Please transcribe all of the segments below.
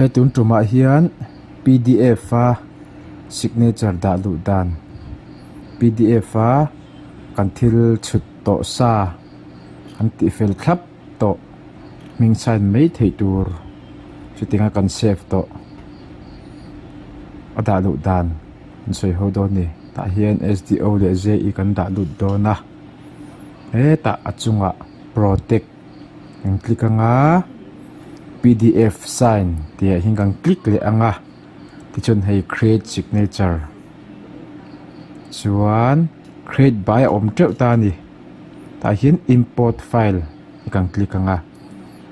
he tun tumah hian p d f a signature dah duh dan p d f a kan thil chhut tawh sa an tih fel thlap. tawh hmingchhain mai theih tur chuting a kan save tawh a dah lut dan kan sawi ho dawn a ni tah hian sdo leh ze i kan dah lut dawn a hetah a chungah protect kan click ang a pdf sign tih ah hian kan click leh ang a tichuan hei create signature chuan create buai a awm teuh ta a ni. tah hian import file a kan click ang a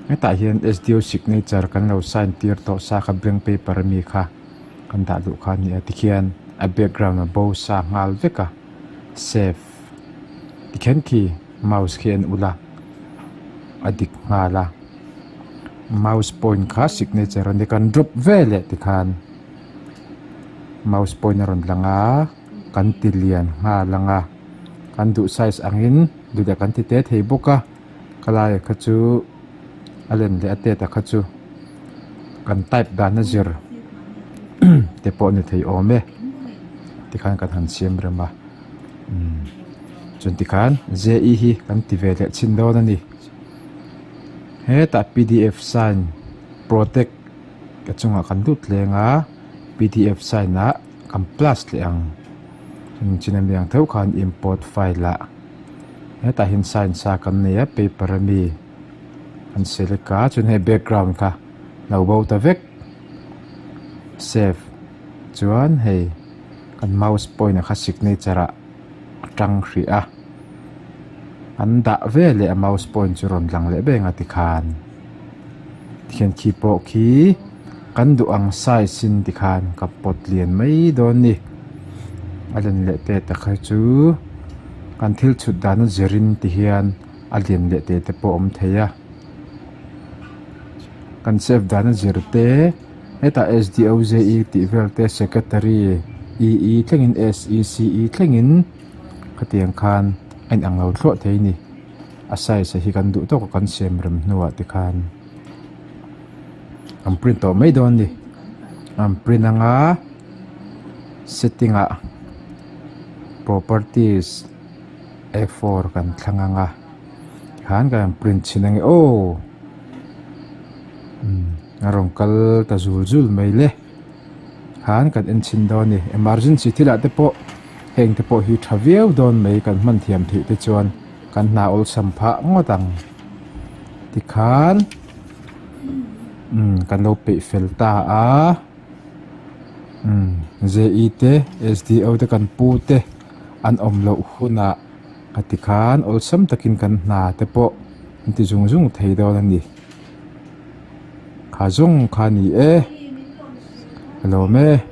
hetah hian sdo signature kan lo sign tir tawh sa kha blank paper a mi kha kan dah duh kha a ni a tikhian a background a bo sa nghal vek a save tikhian khi mouse khi a en ulh a a dik nghal a mouse point kha signature a ni a kan drop veleh tikhan mouse point a rawn lang a. kan ti lian nghal ang a kan duh size angin duhliah kan ti te thei bawk a ka laia kha chu a len leh a tet a kha chu kan type dan a zir te pawh a ni thei awm e tikhan kan han siam rem a umm chuan tikhan ze i hi kan ti ve leh chin dawn a ni hetah pdf sign protect a chungah kan lut leng a pdf sign ah-- Kan plus leh ang chuan chin a mi ang theuh khan import file ah hetah hian science a kan nei a paper a mi kan select a chuan hei background kha lo bo ta vek save chuan hei kan mouse point a kha signature ah a tang hrih a an dah veleh a mouse point chu rawn lang leh vek ang a tikhan. Thianthi pawh khi kan duh ang size in ti khan ka pawt lian mai dawn ni a lian leh te tak hi chu kan thil chhut dan a zir in ti hian a lian leh teh te pawh awm thei a kan chep dan a zir te hetah SDOZE tih vel te secretary EE thleng in SECE thleng in khatiang khan a inang lo thluah thei a ni. a size hi kan duh tawk a kan siam rem hnuah te khan an print tawh mai dawn a ni an print anga setting ah properties a four kan thlang ang a tikhan kan rawn print chhin ang e aw a rawn kal ta zul zul mai le. han kan en chhin dawn a ni emergency thil ah te pawh heng te pawh hi tha viau dawn mai kan hman thiam theih te chuan kan hna awlsam phah ngawt ang ti khan umm kan lo peih fel ta a umm JE te SDO te kan pu te an awm loh hunah ka ti khan awlsam takin kan hna te pawh an ti zung zung thei dawn a ni. kha zawng kha ni e a lawm e.